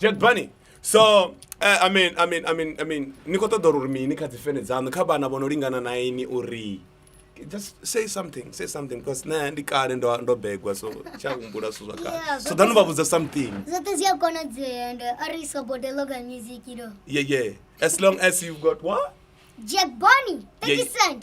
Jed Bunny. So uh, I mean I mean I mean I mean ni khou ṱoḓa uri mini kha dzi fene dzaṋu kha vhana vho no lingana na ini uri just say something say something because nṋe ndi kale ndo ndo begwa so tsha humbula zwithu zwa kale Yeah, so zwoṱhe ḓanu vha zwi- vhudza something zwoṱhe zwi a konadzea and uh, ari so bode local music you know yeah yeah as long as you've got what jack bonny 30 Yeah. cent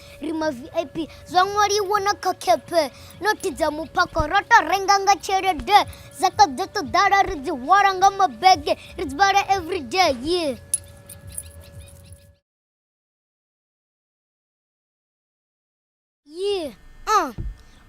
ri ma vip zwa ṅwaliwa na kha khephe nothi dza muphako ro to renga nga tshelede dza kha ḓo to ḓala ri dzi hwala nga mabege ri dzi vhala everyday yeah yeah uh.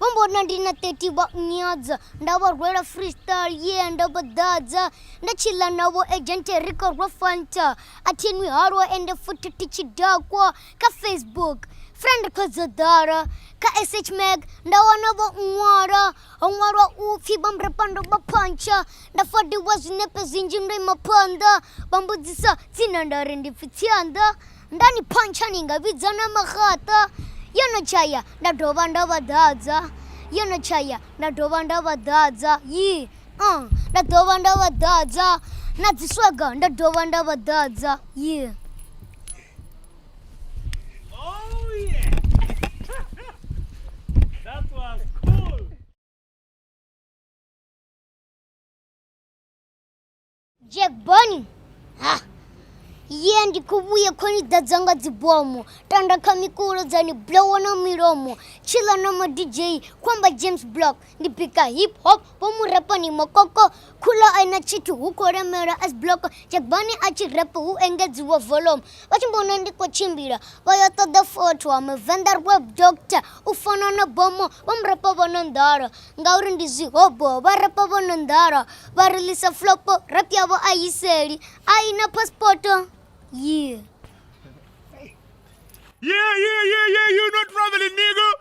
vho mbona ndi na 30 vha nyadza nda vha rwela freestyle yeah nda vha ḓadza nda tshila navho agente ri khou rwa fanta a thinwi halwa ende futhi thi tshi dakwa kha facebook friend khodzodoro kha sh mag nda wana vho ṅwalo ho ṅwalwa u pfhi vhambrepando vha phontsho nda fodiwa zwinepe zwinzhi ndo ima phonḓo vha mbudziso tsina nda ri ndi pfhi tsianḓo nda ni phontsha ni nga vhidza na maxaṱo yo no tshaya nda dovha nda vha ḓadza yo no tshaya nda dovha nda vha ḓadza yi uh, nda dovha nda vha ḓadza na dziswaga nda dovha nda vha ḓadza yi yeah. Jack Bonnie. Ha. Ye ndi khou vhuya khou ni ḓadza nga dzibomo tanda kha mikulo dza ni blowa na milomo tshila na ma DJ khou amba James Block ndi bika hip hop vho mu repo ni mokoko khulo a ina tshithu hu khou lemelwa as block jagbani a tshi repo hu engedziwa volume vha tshi mbona ndi khou tshimbila vha yo ṱoḓa fotho wa muvenḓa web doctor u fana na bomo vha mu repo vho no nḓala ngauri ndi zwihobo vha repo vho no nḓala vha rilisa flopo rap yavho a yiseli a ina paspoto yeah Yeah, yeah, yeah, yeah, you not traveling, nigga.